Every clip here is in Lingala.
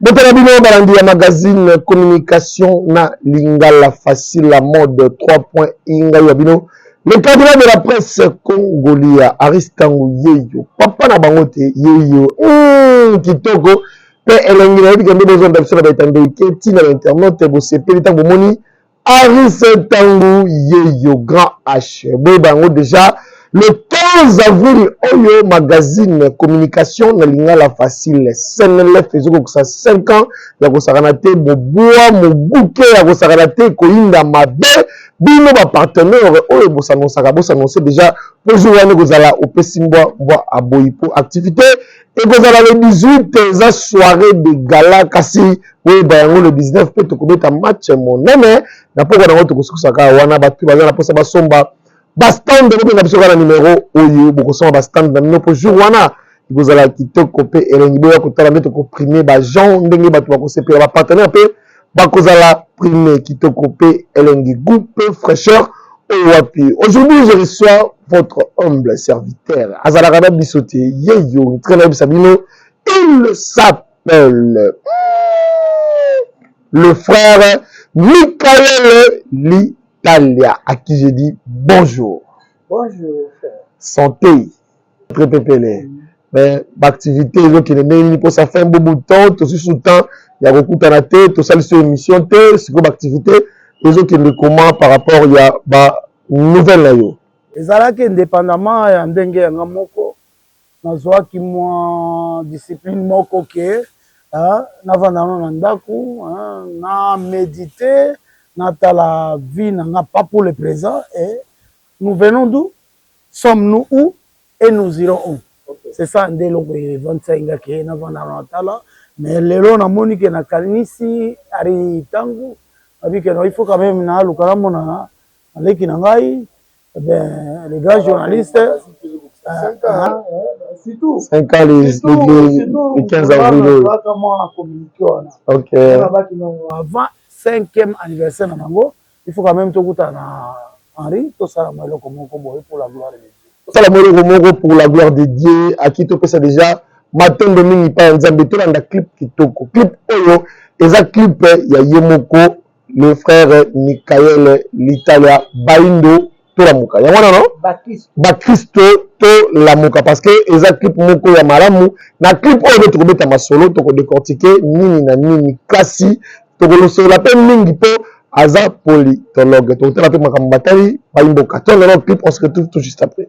botala bino balandi ya magazine communication na lingala facile la mode 3 point ingai ya bino le cardinal de la presse congolia aristango yeyo papa na bango te yeyo mm, kitoko mpe elengi nayebi kende bozonda biso na baetando ike ntina na internet bosepeli ntango bomoni Harrison Tangu Yeyo Grand H. Boyeba yango deja le 15 avril oyo magazine Communication na lingala facile Senelec ezokokisa 5 ans ya kosakana te mobua mobuke ya kosakana te ekoyinda mabe bino ba partenaire oyo bosanonsaka bosanonse deja po jour wana ekozala opesi mbwa mbwa aboyi po activite ekozala le 18 eza soirée de gala kasi oyeba yango le 19 mpe tokobeta match monene na pokwa na yango tokosukusa kaka wana bato baza na mposa basomba bastand bobenga biso kaka na numero oyo bokosomba bastand na bino mpo jour wana ekozala kitoko mpe elengi boya kotala nde tokoprime bagen ndenge bato bakosepela bapartenaire mpe bakozala prime kitoko pe elengi gout pe fraicheur oyo wapi aujourd'hui je reçois votre humble serviteur azalaka na biso te yeyo ntika nayebisa bino il s'appelle le frère Michael Litalia à qui je dis bonjour bonjour frère santé très très pele mais ba activité ezo kende ndenge nini posa fin bo bout temps to susu temps ya ko kutana te to sali sur émission te siko ba activité ezo kende comment par rapport ya ba nouvelle na yo ezalaki indépendamment ya ndenge ya nga moko na zuaki mwa discipline moko ke hein, na vanda na na ndaku hein, na méditer na tala vie na nga pas pour le présent et nous venons d'où sommes nous où et nous irons où c'est ça nde eloko evandisaki nga ke navanda na tala mais lelo namoni ke nakanisi ari tangu nabi ke il faut quand même naluka namona leki na ngai eh ben le grand journaliste surtout cinq ans les les 15 avril oyo kaka mwa communique wana ok nabaki non avant cinquième anniversaire na bango Il faut quand meme tokutana na Henri tosala mwa eloko moko boye pour la gloire de Dieu. Tosala mwa eloko moko pour la gloire de Dieu. Aki topesa deja matondo mingi epai ya Nzambe. Tolanda clip kitoko. Clip oyo eza clip ya ye moko le frère Michael Litalia Baindo tolamuka yango wana no bakristo tolamuka parce que eza clip moko ya malamu na clip oyo nde tokobeta masolo tokodecortike nini na nini kasi tokolosola mpe mingi mpo aza politologue tokotala mpe makambo batali baimboka tolelo clip on se retrouve tout juste après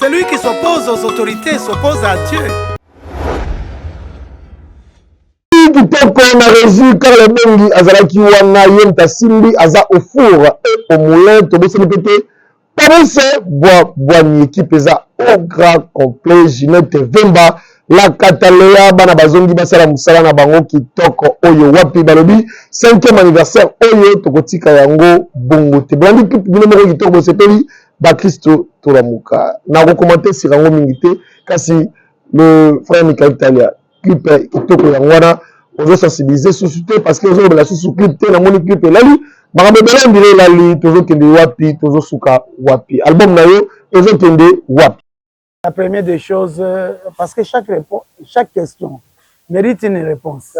Celui qui s'oppose aux autorités s'oppose à Dieu. kitoko na resu karl ebongi azalaki wana ye moto asimbi aza au four et au moulin tobosani mpe te parise bwa bwani ekipe eza au grand complet ginete vemba la cataleya bana bazongi basala mosala na bango kitoko oyo wapi balobi cinquième anniversaire oyo tokotika yango bongo te bolandi clip bino moko kitoko bosepeli bakristo tolamuka nakokomante sika yango mingi te kasi le frère michael talia clip kitoko yango wana ozo sensibiliser susu te parce que ozolobela susu clip te namoni clip elali makambo ebele ndire elali tozokende wapi tozosuka wapi album na yo ezokende wapi La première des choses, euh, parce que chaque, chaque question mérite une réponse.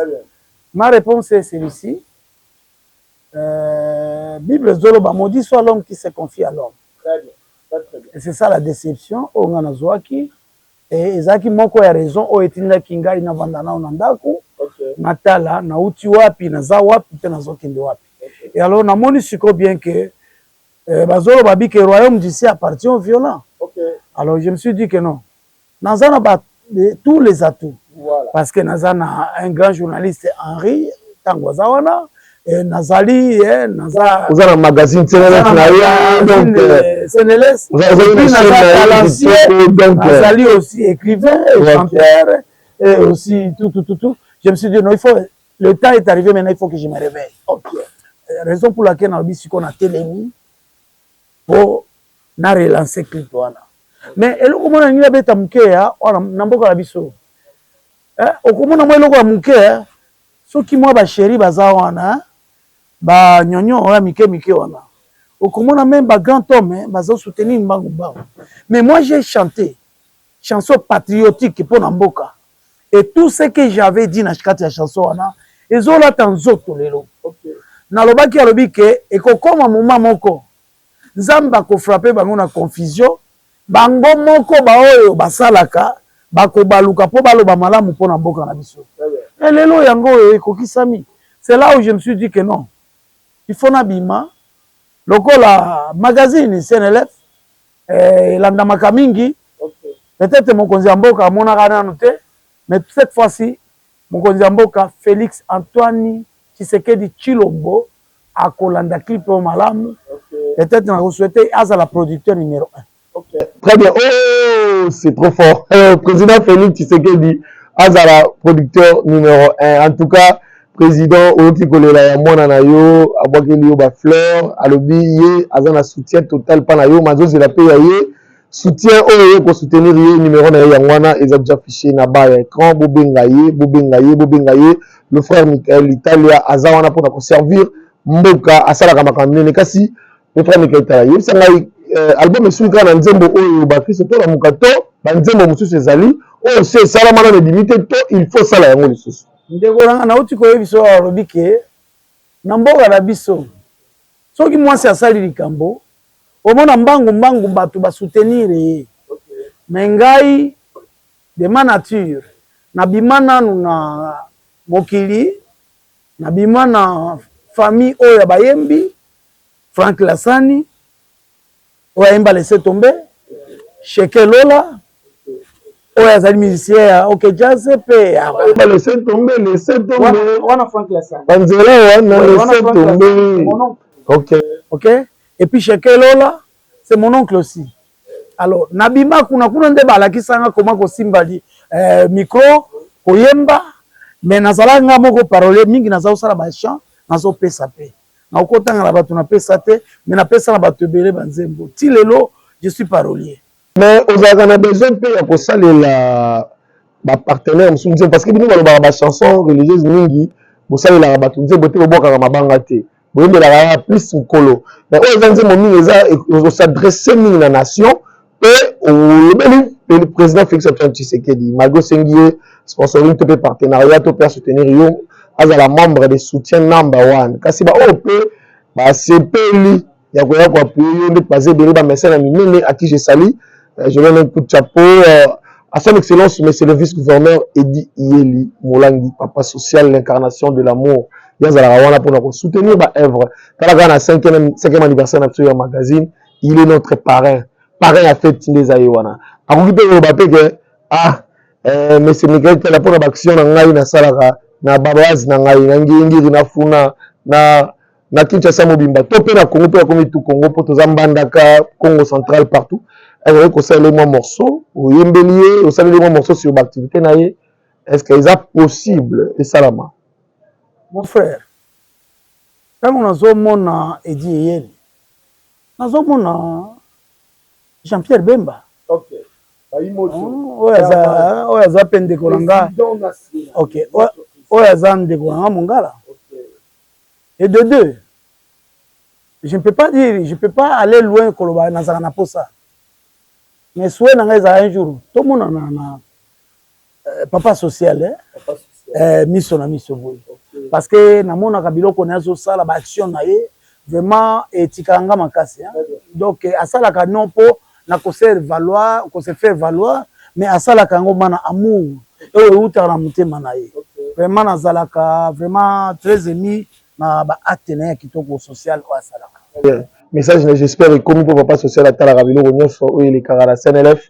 Ma réponse est celle-ci. Euh, Bible Zoloba, maudit soit l'homme qui se confie à l'homme. Et c'est ça la déception, Ongana Zouaki. Et Ezaki Moko a raison, O Etinda Kinga, Inavandana, Onandaku, Matala, Nauti Wapi, Naza Wapi, Tenazokende Wapi. Et alors, on a bien que Eh, bazoloba bi que royaume d'ici appartient aux violents. Okay. Alors je me suis dit que non. Naza na ba tous les atouts. Voilà. Parce que naza na un grand journaliste Henri tango aza wana eh, nazali eh, naza oza na magazine CNLS na yo ah, donc euh, CNLS puis naza talentueux donc euh, nazali aussi écrivain et chanteur et aussi tout tout tout tout. Je me suis dit non, il faut Le temps est arrivé maintenant il faut que je me réveille. OK. Euh, raison pour laquelle nalobi siko na telemi po na relancer clip wana. Mais eloko mona ngi abeta muke ya wana na mboka na biso. Eh, okomona mwa eloko ya muke eh? soki mwa ba chéri baza wana eh? ba nyonyo ya mike mike wana okomona meme ba grand homme eh, bazo soutenir mbangu mbangu mais moi j'ai chanté chanson patriotique pona mboka et tout ce que j'avais dit na kati ya chanson wana ezo lata nzoto lelo okay. Nalobaki alobi ke ekokoma moma moko Nzambe ako frapper bango na confusion bango moko baoyo basalaka bakobaluka po baloba malamu pona mboka na biso et lelo yango oyo ekokisami c'est là où je me suis dit que non il faut na bima lokola magazine CNLF eh, elandamaka mingi okay. Peut-être mokonzi ya mboka amonaka nanu te mais cette fois-ci mokonzi ya mboka Felix Antoine Tshisekedi Chilombo akolanda clip oyo malamu okay. Peut-être nakosouhaite azala producteur numéro 1 okay. Très bien oh c'est trop fort euh, président Felix Tshisekedi azala producteur numéro 1 en tout cas President oyoki kolela ya mwana na yo abwakeli yo ba fleurs alobi ye aza na soutien total pa na yo mais azozela pe ya ye soutien oyo oyo ko soutenir ye numero na ye yango wana eza dejà fiche na ba ya ecran bobenga ye bobenga ye bobenga ye le frère Michael Italia aza wana pona ko servir mboka asalaka makambo nene kasi le frère Michael Italia yebisa ngai euh, album esui kaka na nzembo oyo bakristo tolamuka to banzembo mosusu ezali oyo se esalama nano ebimi te to il faut sala yango lisusu Ndeko na nga nauti koyebisa oyo alobi ke na mboka na biso soki mwasi asali likambo omona mbangu mbangu bato ba soutenir ye me ngai de ma nature nabima nanu na mokili nabima na famille oyo ya bayembi Frank Lasani oyo ayemba laisser tomber Sheke Lola oyo azali musicien ya OK Jazz mpe ayemba laisser tomber laisser tomber wana Frank Lassa banzela wana laisser tomber OK OK et puis Sheke Lola c'est mon oncle aussi alors nabima kuna kuna nde balakisa nga koma kosimba li eh, micro koyemba mais nazalaki nga moko parole mingi naza kosala ba chant nazopesa mpe na okotanga na bato na pesa te mais na pesa na bato ebele ba nzembo ti lelo je suis parolier mais ozalaka na besoin mpe ya kosalela bapartenaire mosusu nzembo parce que bino balobaka bachanson religieuse mingi bosalelaka bato nzembo te bobwakaka mabanga te boyembelaka ya plus mokolo mais oyo eza nzembo mingi eza osadresse mingi na nation mpe olobeli le président Félix Antoine Tshisekedi malgré osengi ye sponsoring to mpe partenariat to mpe asoutenir yo azala membre de soutien number one kasi baoyo mpe basepeli ya koya koapuye yo nde baza ebele bamesene ya minene à qui je salie euh, je donne un coup de chapeau euh, à son excellence monsieur le vice-gouverneur Eddy Iyeli Molangi papa social l'incarnation de l'amour ye azalaka wana mpona kosoutenir baœuvre tala kaka na 5e anniversaire na biso ya magazine il est notre parrain parrain ya fete nde eza ye wana akoki mpe koloba mpe ke ah eh, monsieur Michael tala mpo na baaction na ngai nasalaka na babazi na ngai na ngingiri na funa na na Kinshasa mobimba to mpe na Congo mpe akomi tu Congo mpo toza Mbandaka Congo central partout akoki kosalela ye mwa morceau oyembeli ye osaleli mwa morceau sur baactivité na ye est ce que eza possible esalama mon frère ntango nazomona edi eyeli Nazo mona jean pierre bemba oyo aza pe ndeko na nga ok oyo aza ndeko na nga mongala et de deux je ne peux pas dire je peux pas aller loin koloba nazala na posa mais souhait na nga ezala un jour tomonana na Euh, papa social eh? Papa social. Eh, miso na miso boye okay. parce que namonaka biloko na ye azosala baaction na ye vraiment etikaka nga makasi hein? donc eh, asalaka non mpo na koser valoir kose faire valoir mais asalaka yango ma na amour oyo eutaka na motema na ye okay. vraiment nazalaka vraiment très émis na ba acte na ye ya kitoko social oyo asalaka. Message na j'espère ekomi po papa social atalaka biloko nionso oyo elekaka na CNLF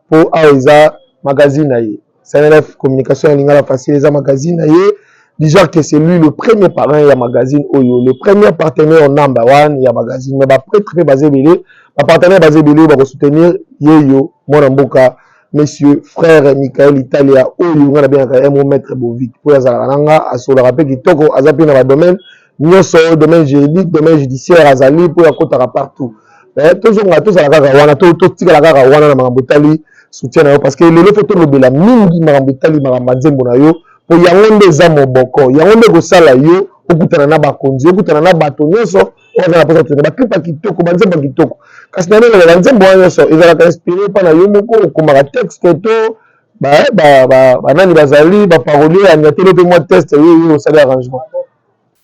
po awa eza magazine na ye. CNLF communication ya lingala facile eza magazine na ye. Dj'art que c'est lui le premier parrain ya magazine oyo, le premier partenaire number one ya magazine mais ba pretres pe baza ebele, ba partenaires baza ebele oyo bako soutenir yeyo mwana mboka. monsieur frère Michael Italia oyo nga nabengaka ye mo maître Bovik mpo azalaka na nga asololaka mpe kitoko aza mpe na badomaine nyonso oyo domaine juridique domaine judiciaire azali mpo akotaka partout eh, tozonga tozala kaka wana totikala kaka wana na makambo etali soutien na yo parce que lelo mpo tolobela mingi makambo etali makambo ya nzembo na yo mpo yango nde eza moboko yango nde ekosala yo okutana na bakonzi okutana na bato nyonso wana naposa tuna baklipa kitoko banzembo kitoko kasi na ndenge na banzembo wana nyonso ezalaka inspiré mpa na yo moko okomaka texte to banani bazali baparolio ya nyatelo mpe mwa test ye ye osali arrangement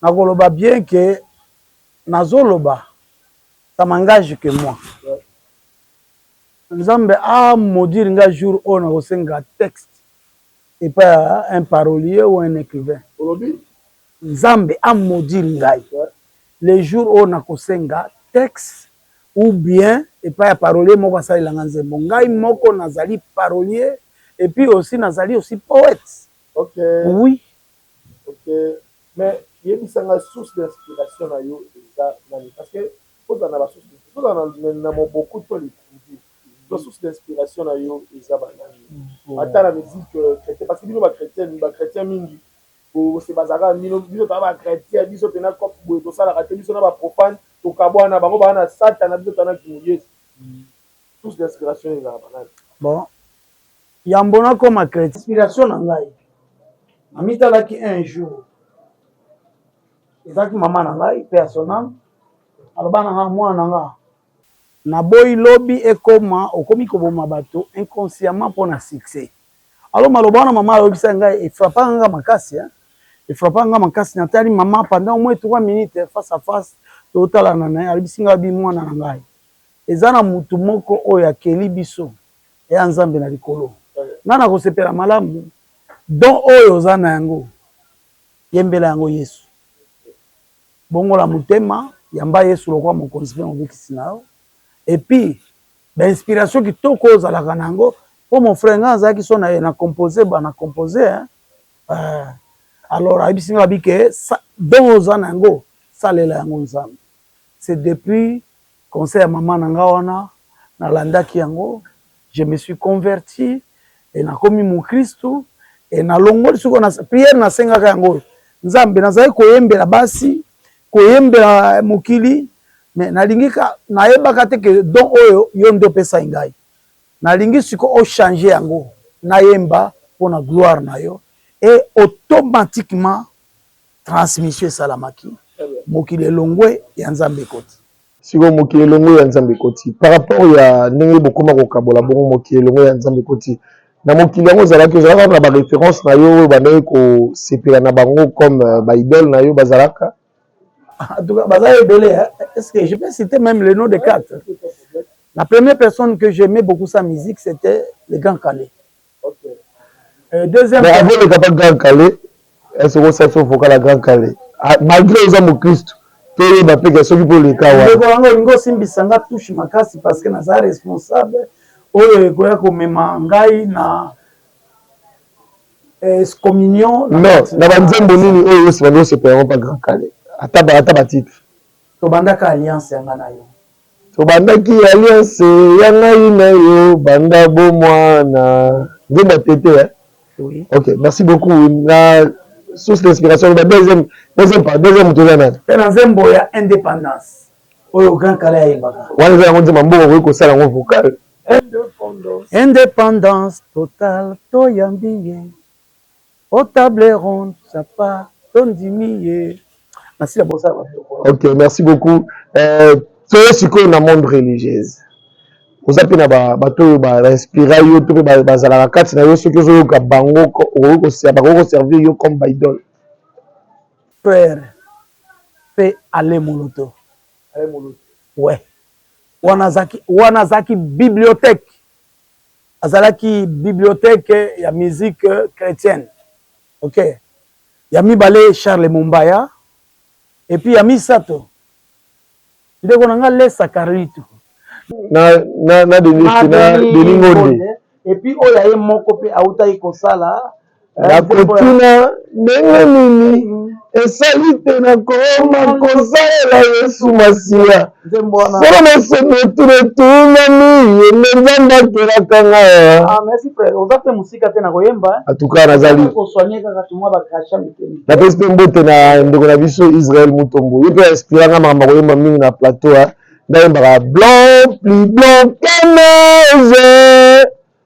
nakoloba bien ke nazoloba ça m'engage que moi nzambe amodire ah, nga jour oyo nakosenga texte epai ya un parolier ou un écrivain olobi Nzambe a maudire ngai le jour oyo nakosenga texte ou bien epai ya parolier moko asalela ngai nzembo. Ngai moko nazali parolier et puis aussi nazali aussi poete. Ok. Oui. Ok. Mais yebisa ngai source d'inspiration na yo eza nani? Parce que kozala na ba source d'inspiration, kozala na moboku to likundi to source d'inspiration na yo eza ba nani? Ata na musique chretien parce que bino ba chretien, ba chretien mingi. Bose bazalaka na bino biso toza ba chretien biso pena coop boye tosalaka te biso na ba profane tokabuana bango baza na satana biso toza na kimo yesu source d'inspiration ezalaka nani? Bon yambo nakoma chretien. Inspiration na ngai namitalaki un jour ezalaki maman na ngai paix à son ame aloba na nga muana na nga, naboyi lobi ekoma okomi koboma batu inconsciemment pona succès. Alors maloba wana mama ayebisa nga e frappa nga makasi hein. E frappa nga makasi na tali mama pendant au moins 3 minutes face à face to talana na ye ayebisi nga bi mwana na ngai eza na mutu moko oyo akeli biso eya Nzambe na likolo. Nga na kosepela malamu don oyo oza na yango yembela yango Yesu. Bongola motema yamba Yesu lokola mokonzi pe mobikisi na yo et puis ba inspiration kitoko oyo ozalaka na yango mpo mon frère ngai nazalaki so na na compose ba na compose hein euh, alors ayebisi ngai abi ke don oza na yango salela yango nzambe c'est depuis conseil ya mama na ngai wana nalandaki yango je me suis converti e nakomi mokristu e nalongoli sikoyo na priere nasengaka yango oyo nzambe nazalaki koyembela basi koyembela mokili mais nalingi ka nayebaka te que don oyo yo nde opesaki ngai nalingi siko o changer yango nayemba mpo na gloire na yo et automatiquement transmission esalamaki mokili elongwe ya Nzambe ekoti. sikoyo mokili elongo ya nzambe ekoti par rapport ya ndenge bokoma kokabola bongo mokili elongo ya nzambe ekoti na mokili yango ozalaki ozalaka na bareference na yo oyo bandaki kosepela na bango comme euh, baidole na yo bazalaka en tout cas baza ebele est ce que je peux citer même le nom de quatre la première personne que j'aimais beaucoup sa musique c'était le grand calais Mais avant oleka pa grand kalle est ce que osala biso vocal ya grand kalle malgre oza mukristu toyeba pe ke soki pe oleka wana. Ndeko na nga olingi osimbisa nga touche makasi parce que naza responsable oyo ekoya komema ngai na excommunion. Non na ba nzembo nini oyo yo sima nde osepela yango pa grand kalle ata ba titre. Tobandaka alliance ya nga na yo Tobandaki alliance ya ngai na yo banda bo mwana. Nzembo ya tete hein? Oui. Ok, merci beaucoup. Na source d'inspiration loba deuxième deuxième part deuxième moto eza nani? Mpe na nzembo ya independance oyo Grand Kalle ayembaka. Wana eza yango nzembo mboka okoki kosala yango vocal. Independance totale toyambi ye. Oh table ronde papa to ndimi ye. Merci na bosa ba biloko. Ok merci beaucoup euh toye sikoyo na monde religieuse. Oza pe na ba bato oyo ba inspira yo to pe bazalaka kati na yo soki ozo yoka bango okoki ko se bakoki ko servir yo comme ba idole. Père pe Alain Moloto. Alain Moloto. Ouais. Wana azaki wana azaki bibliothèque Azalaki bibliothèque ya musique chretienne. Ok. Ya mibale Charles Mombaya. Et puis ya misato ndeko na nga Lesa Carlito. Na, na, na Denis, na Denis Ngonde. Et puis oyo ya ye moko pe awutaki kosala. Nakotuna ndenge nini esali te nakoma kosalela Yesu Masiya? Solo mosomi etuna etunami, ye nde Nzambe akelaka nga. Atuka nazali napesi mpe mbote na ndeko na biso Israel Mutombo, ye mpe inspira nga makambo akoyemba mingi na plateau. Ndayembaka blanc plus blanc que neige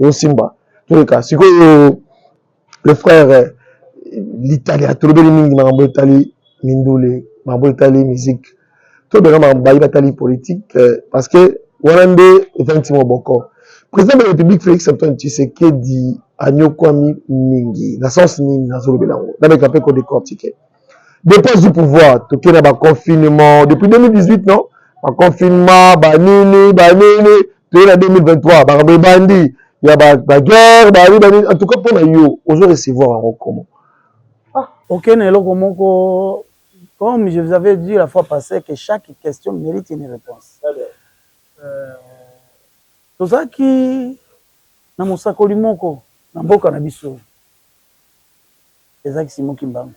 ezosimba toleka sikoyo le frère litalia tolobeli mingi makambo etali mindule makambo etali musique tobeka makambo baye batali politique euh, parce que wana nde etangisi moboko président de la république félix antoine tshisekedi anyokwami mingi na sens nini nazolobela yango nabeka mpe kodecortike depuis azwi pouvoir toke na baconfinement depuis 2018 non baconfinement banini banini toye na 2023 makambo ebandi ya baguerre bani banini en tout cas mpo na yo ozo recevoir yango komo ah. oke na eloko moko comme je vous avais dit la fois passée que chaque question mérite une réponse euh, tozalaki na mosakoli moko na mboka na biso Eza ki Simon kimbangu.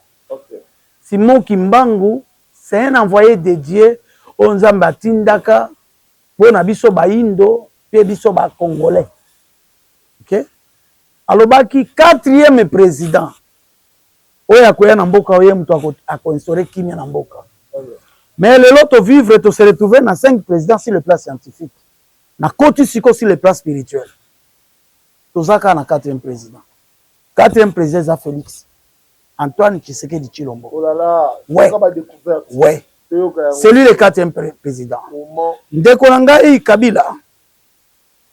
Simon kimbangu c'est un envoye de Dieu oyo nzambe atindaka pona biso bayindo pe biso ba congolais ok alobaki quatrième president oyo akoya na mboka oyo ye mutu ako instaure kimia na mboka mais lelo to vivre to se retrouver na cinq president sur le plan scientifique na koti siko sur le plan spirituel toza kaka na quatrième president Quatrième président eza Felix Antoine Tshisekedi Tshilombo. Oh là là, ouais. Ouais. C'est lui le quatrième président. Ndeko na ngai Kabila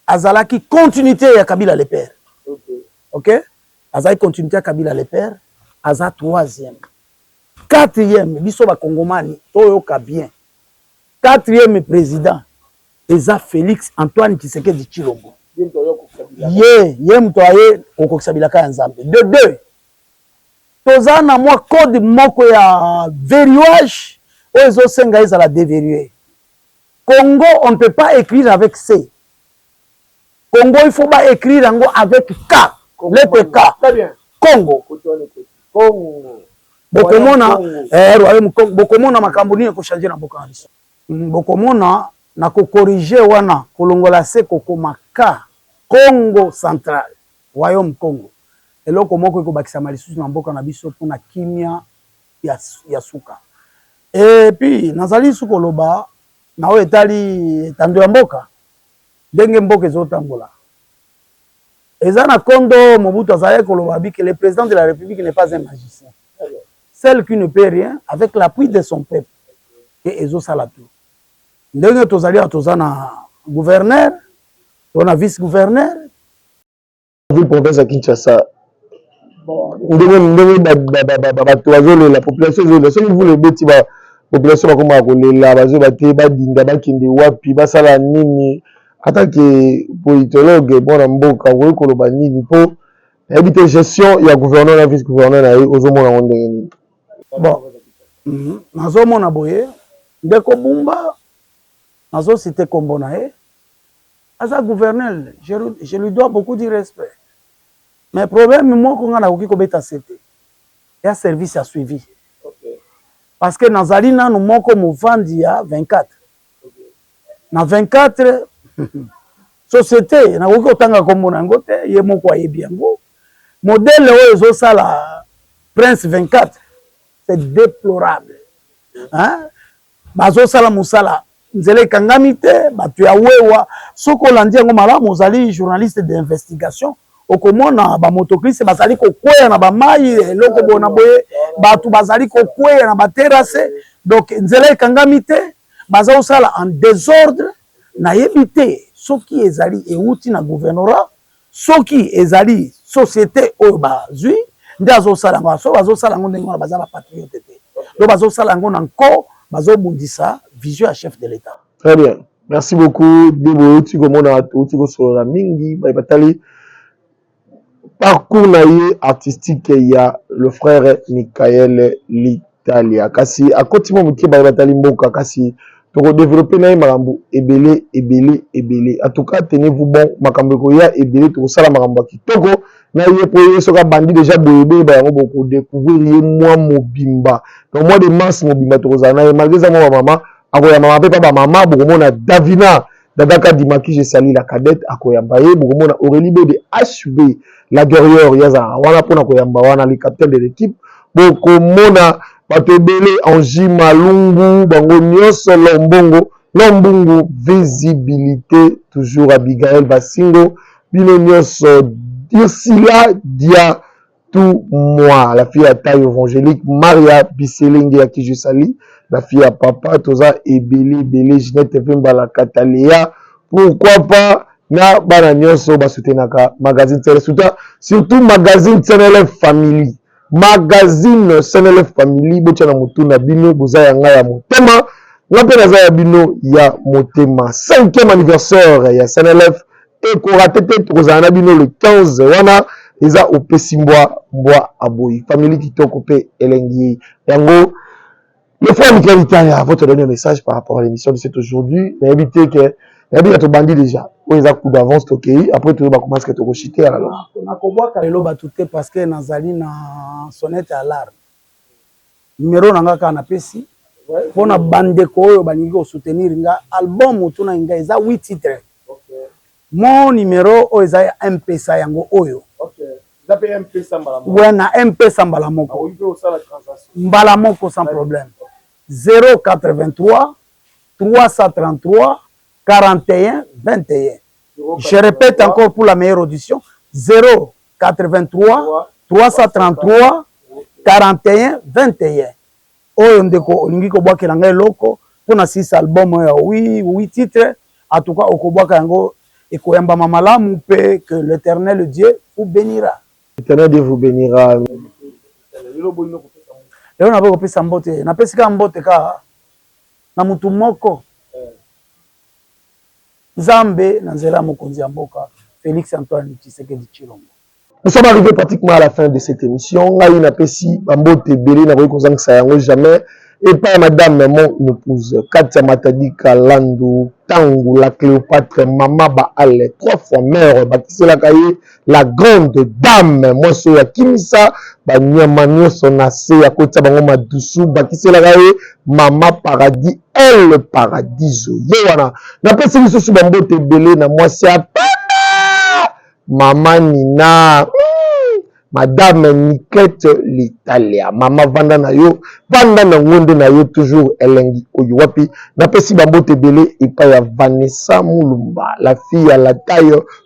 azalaki continuité ya Kabila le père. Okay. Okay? Azali continuité ya Kabila le père, aza troisième. Quatrième, biso ba Kongomani toyoka bien. Quatrième président eza Felix Antoine Tshisekedi Tshilombo ye ye moto aye kokokisa bilaka ya Nzambe de deux toza na mwa code moko ya verrouage oyo ezosenga ezala deverrouiller Congo on ne peut pas écrire avec C Congo il faut ba écrire yango avec K lettre K Congo bokomona eh, bokomona makambo nini ekochange na mboka na biso Bokomona na ko corriger wana kolongola se kokoma ka Kongo central, Royaume Kongo, eloko moko ekobakisama lisusu na mboka na biso mpo na kimia ya suka. Et puis nazali lisusu koloba na oyo etali etando ya mboka, ndenge mboka ezotambola eza na kondo Mobutu azalaki koloba abi que le President de la Republique n'est pas un magicien seul qui ne peut rien avec l'appui de son peuple. ke ezo sala tout ndenge tozali awa toza na gouverneur to na vice gouverneur ville province ya Kinshasa ndenge ndenge bato bazolela population ezolela soki mvula ebeti ba population bakomaka kolela bazoyeba te badinda bakende wapi basala nini ata ke politologue mwana mboka okoki koloba nini mpo nayebi te gestion ya gouverneur na vice gouverneur na ye ozomona yango ndenge nini Bon, nazomona boye ndeko Bumba nazo cite kombo na ye aza gouverneur je, je lui dois beaucoup du respect mais problème moko nga nakoki kobeta sete ya service ya suivi parce que nazali nanu moko movandi ya 24 na 24 société nakoki kotanga kombo na yango te ye moko ayebi yango modele oyo ezosala prince 24 c'est déplorable hein? bazosala mosala nzela ekangami te bato ya wewa soki olandi yango malamu ozali journaliste d'investigation okomona bamotoklise bazali kokweya na bamai eloko bona boye bato bazali kokweya na baterase donc nzela ekangami te baza kosala en desordre nayebi te soki ezali ewuti na gouvernorat soki ezali societe oyo bazwi nde azosala yango soki bazosala yango ndenge wana baza ba patriote te donc bazosala yango na nko bazobundisa vision ya chef de l'etat très bien merci beaucoup debo outi komona outi kosolola mingi baye batali Parcours na ye artistique ya le frere Michael Litalia kasi akoti mwa moke baye batali mboka kasi toko developpe na ye makambo ebele ebele ebele en tout cas tenez vous bon makambo ekoya ebele tokosala makambo ya kitoko na ye po ye soki abandi dejà boye boyeba yango boko decouvrir ye mwa mobimba donc mois de mars mobimba tokozala na ye malgre eza mwa ba mama akoya mama pe pa ba mama bokomona Davina Dada Kadima qui je salue la cadette akoyamba ye bokomona Aurélie Bode HB la guerrière yazala wana pona koyamba wana le capitaine de l'équipe bokomona bato ebele Angie Malungu bango nyonso Lombongo Lombungu visibilité toujours Abigail Basingo bino nyonso Ursula Dia tout moi la fille ya taille evangelique maria biselenge ya kijusali la fille ya papa toza ebele ebele ginette vemba la kataleya pourquoi pas na bana nyonso basutenaka magazine tsele suta surtout magazine tsenele family magazine senele family botya na motu na bino boza ya ngai ya motema nga mpe naza ya bino ya motema cinquième anniversaire ya senelef te korate te tokozala na bino le 15 wana eza opesi mbwa mbwa aboyi famille kitoko mpe elengi ye yango le fois mikela litaya avant to donner message par rapport à l'émission de cet aujourd'hui nayebi te ke nayebi na tobandi déjà oyo eza coup d'avance tokei après toyo bakomasi ke tokoshite ya lalo nakobwaka lelo bato te parce que nazali na sonnete alarme Numero na nga kaka na pesi pona bandeko oyo balingi ko soutenir nga album otunaki nga eza 8 titre mon numero oyo eza mpesa yango oyo we na mpesa mbala moko mbala moko sans problème 083 333 41 21 je répète encore pour la meilleure audition 0 83 333 41 21 oyo ndeko olingi kobwakela ngai eloko mpo na six album oyo ya wi wi titre en tout cas okobwaka yango ekoyambama malamu mpe que l'éternel dieu vous bénira l'éternel dieu vous bénira lelo naboyi kopesa mbote napesi kaka mbote kaka na motu moko Nzambe na nzela ya mokonzi ya mboka Felix Antoine Tshisekedi Tshilombo. Nous sommes arrives pratiquement à la fin de cette emission ngai na pesi ba mbote ebele na koki kozangisa yango jamais epa ya madame mon epouse Katia Matadika Landu Tangu la Cleopatre mama ba ale trois fois mère bakiselaka ye la grande dame mwasi oyo akimisa banyama nyonso na se ya kotya bango madusu bakiselaka ye mama paradis el paradiso ye wana napesi lisusu bambote ebele na mwasi ya pembe mama nina mm, madame niklete litalia mama vanda na yo vanda na ngonde na yo toujours elengi oyo wapi napesi bambote ebele epai ya vanessa mulumba la fille ya la taille